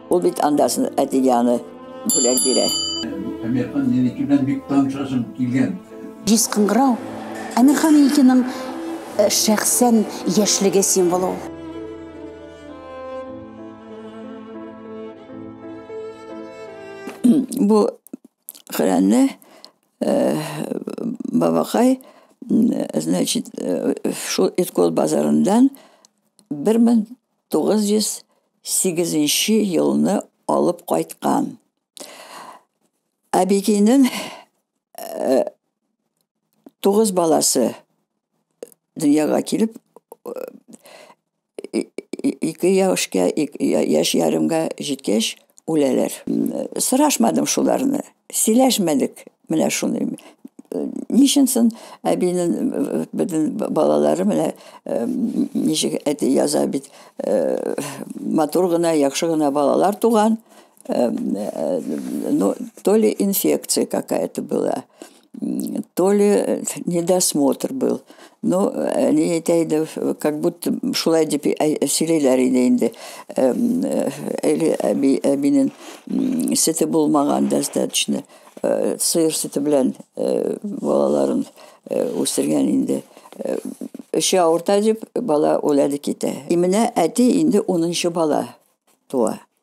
Ул бит андасын әтигәне бүләк бирә. Әмирхан Еники белән бик танышасым килгән. Җиз кыңгырау Әмирхан Енекиның э, шәхсән яшьлеге символы ул. Бу хәләне бабакай значит шул иркол базарыннан бер мең тугыз йөз сигезенче елны алып кайткан әбекинең тугыз баласы дөньяга килеп ике яшькә яшь ярымга җиткәч үләләр сорашмадым шуларны сөйләшмәдек менә шуны ничен сон әбинен бөтен балалары менә ничек әти яза бит матур гына яхшы гына балалар туган Эм, э, ну, то ли инфекция какая-то была, то ли э, недосмотр был. Ну, э, не әйтәйдем, как будто шулай дип сөйләйләр иде инде. Эм, әле әби, әбинен сете булмаган достаточно. Сыер сете белән балаларын үстергән инде. Эше авырта дип, бала үләде китә. И менә әти инде 10 бала туа.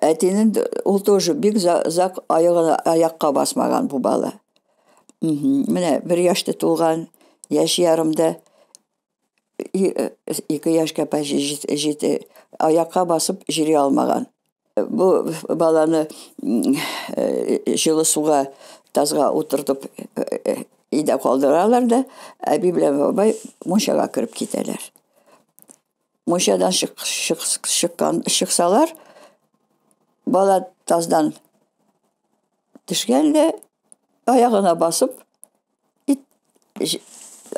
әтинен ул тоже бик озак аякка басмаган бу бала менә бер яшьтә туган яшь ярымда ике яшькә почти җитә аякка басып йөри алмаган бу баланы җылы суга тазга утыртып өйдә калдыралар да әби белән бабай мунчага кереп китәләр мунчадан чыккан чыксалар бала таздан төшкәндә аягына басып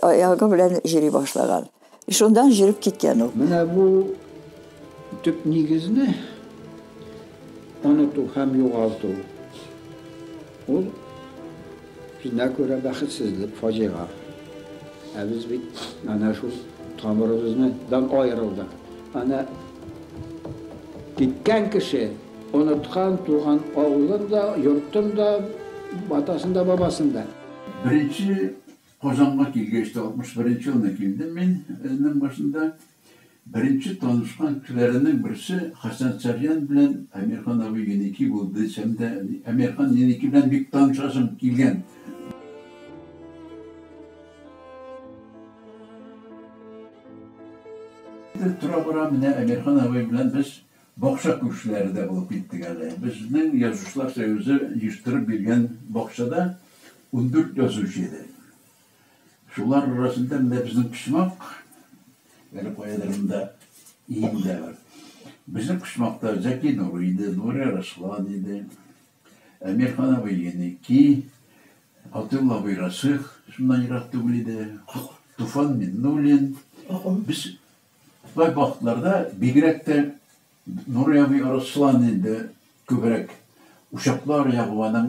аягы белән җири башлаган шундан җиреп киткән ул менә бу төп нигезне Оныту һәм югалту, ул безнә күрә бәхетсезлек, фаҗига. Ә без бит әнә шул тамырыбызныдан аерылдык. Әнә киткән кеше оныткан туган авылын да, йортын да, атасын да, бабасын да. Беренче Казанга килгәч тә, 61 нче елны килдем мин, ның башында. Беренче танышкан кешеләренең берсе Хәсән Сарьян белән Әмирхан абый Еники булды дисәм дә, Әмирхан Еники белән бик танышасым килгән. Тора-бара менә Әмирхан абый белән без бакча күршеләре дә булып киттек әле. Безнең Язучылар союзы оештырып биргән бакчада ундүрт язучы иде. Шулар арасында менә безнең почмак, әле каядыр монда иңдә бар. Безнең почмакта Зәки Нурый иде, Нурия Раслан иде, Әмирхан абый Еники, Атилла абый Расих, шуннан ерак түгел иде, Туфан Миннуллин. Без бай вакытларда бигрәк тә Нуръяби Руслан инде күбрәк учаклар ягу, аның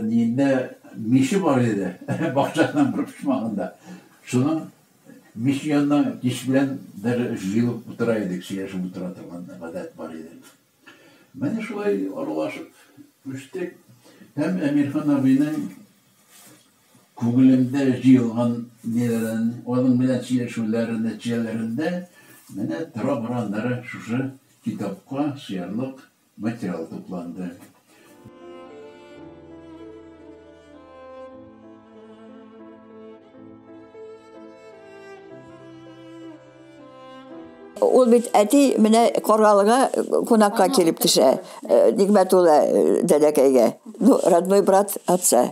ниендә миче бар иде, бакчасының бер почмагында. Шуның миче янына кич белән даже җыелып утыра идек, сөйләшеп утыра торган гадәт бар иде. Менә шулай аралашып үстек һәм Әмирхан абыйның. Күңелемдә җыелган ниләрен, аның белән сөйләшүләре нәтиҗәләрендә менә тора-бара ныры шушы китапка сыярлык материал тупланды. Ул бит әти менә Каргалыга кунакка килеп төшә, Нигъмәтулла дәдәкәйгә. Ну, родной брат отца.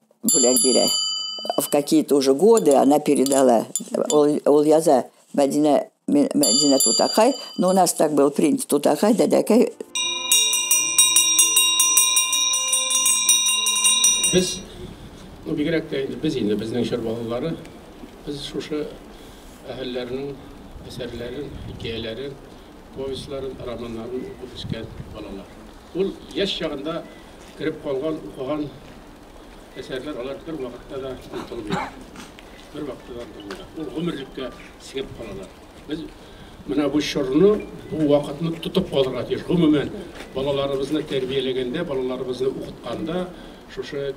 бүләк бирә. В какие-то уже годы она передала. Ул, ул яза Мәдинә, Мәдинә Тутакай. Но у нас так был принт Тутакай, Дәдәкай. Без, ну, бигрәк тә инде без инде, безнең чор балалары, без шушы әһелләрнең әсәрләрен, хикәяләрен, повестьларын, романнарын укып үскән балалар. Ул яшь чагында кереп калган, укыган әсәрләр алар бер вакытта да онытылмыйлар. Бер вакытта да онытылмыйлар. Ул гомерлеккә сигеп калалар. Без менә бу чорны, бу вакытны тотып калырга тиеш. Гомумән, балаларыбызны тәрбияләгәндә, балаларыбызны укытканда, шушы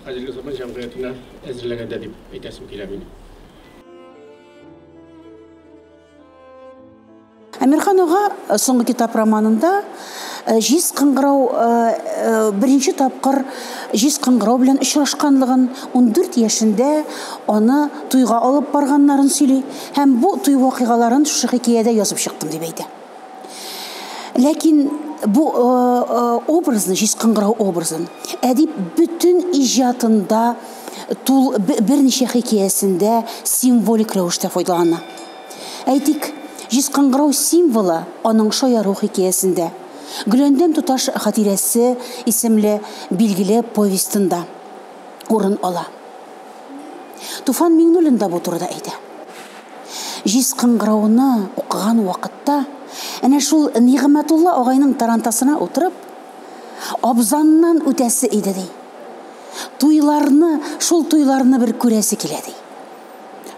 хәзерге заман җәмгыятенә әзерләгәндә дип әйтәсем килә минем. Әмирхан ага э, соңгы китап романында э, җиз кыңгырау э, беренче тапкыр җиз кыңгырау белән очрашканлыгын, 14 яшендә аны туйга алып барганнарын сөйли һәм бу туй вакыйгаларын шушы хикәядә язып чыктым дип әйтә. Ләкин бу образны, җиз кыңгырау образын әдип бөтен иҗатында тул берничә хикәясендә символик рәвештә файдалана. Әйтик, җиз кыңгырау символы аның шаяру хикәясендә, Гөләндәм туташ хатирәсе исемле билгеле повестенда урын ала. Туфан Миңнуллин да бу турыда әйтә. Җиз кыңгырауны укыган вакытта, әнә шул Нигъмәтулла агайның тарантасына утырып, абзаннан үтәсе иде, ди. Туйларны, шул туйларны бер күрәсе килә, ди.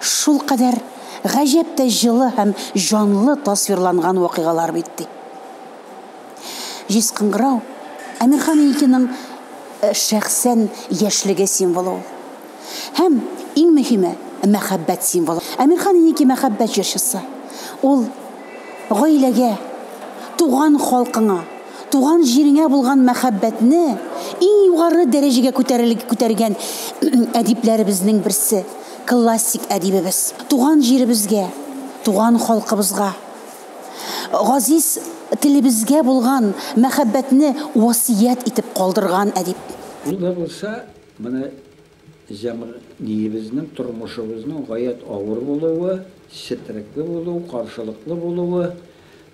Шулкадәр гаҗәп тә җылы һәм җанлы тасвирланган вакыйгалар бит, ди. Җиз кыңгырау, Әмирхан Илькиның шәхсән яшьлеге символы ул. Һәм, иң мөһиме, мәхәббәт символы. Әмирхан Ильки мәхәббәт җырчысы. Ул гаиләгә, туган халкыңа, Туган җиреңә булган мәхәббәтне иң югары дәрәҗәгә күтәргән әдипләребезнең берсе, классик әдибебез. Туган җиребезгә, туган халкыбызга, газиз телебезгә булган мәхәббәтне васыять итеп калдырган әдип. Ул да булса, менә җәмгыебезнең, тормышыбызның гаять авыр булуы, четерекле булуы, каршылыклы булуы,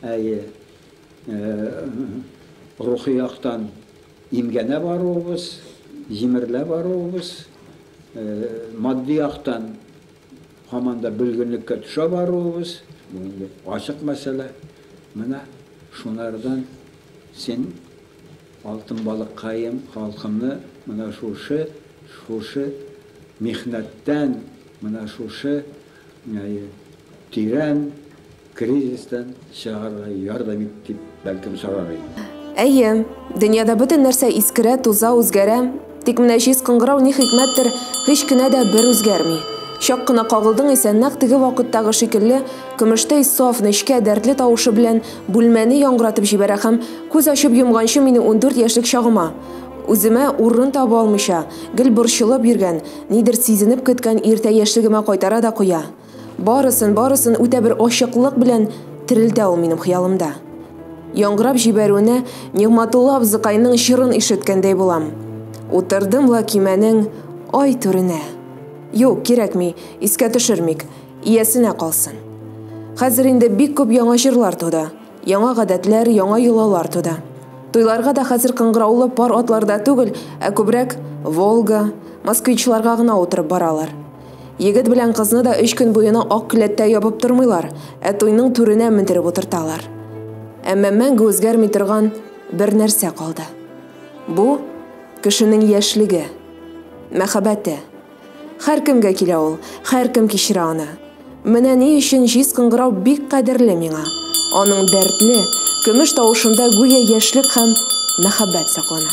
әйе. Рухи яктан имгәнә баруыбыз, җимерелә баруыбыз, матди яктан һаман да бөлгенлеккә төшә баруыбыз, бу инде ачык мәсьәлә. Менә шунардан син, алтын балыккаем, халкымны менә шушы, шушы михнәттән, менә шушы. Тирән кризистан чыгарга ярдәм ит, дип бәлкем сорар идем. Әйе, дөньяда бөтен нәрсә искерә, туза, үзгәрә. Тик менә җиз кыңгырау ни хикмәттер, һич кенә дә бер үзгәрми. Чак кына кагылдың исә, нәкъ теге вакыттагы шикелле, көмештәй саф, нечкә, дәртле тавышы белән бүлмәне яңгыратып җибәрә һәм, күз ачып йомганчы мине ундүрт яшьлек чагыма, үземә урын таба алмыйча, гел борчылып йөргән, Нидер сизенеп көткән иртә яшьлегемә кайтара да куя. Барысын, барысын үтә бер ачыклык белән терелтә ул минем хыялымда. Яңгырап җибәрүенә Нигъмәтулла абзыкайның җырын ишеткәндәй булам. Утырдым ла көймәнең ай түренә. Юк, кирәкми, искә төшермик, иясенә калсын. Хәзер инде бик күп яңа җырлар туды. Яңа гадәтләр, яңа йолалар туды. Туйларга да хәзер кыңгыраулы пар атларда түгел, ә күбрәк Волга, Москвичларга гына утырып баралар. Егет белән кызны да өч көн буена ак келәттә ябып тормыйлар, ә туйның түренә мендереп утырталар. Әмма мәңге үзгәрми торган бер нәрсә калды. Бу, кешенең яшьлеге, мәхәббәте. Хәркемгә килә ул, хәркем кичерә аны. Менә ни өчен җиз кыңгырау бик кадерле миңа. Аның дәртле, көмеш тавышында гүя яшьлек һәм мәхәббәт саклана.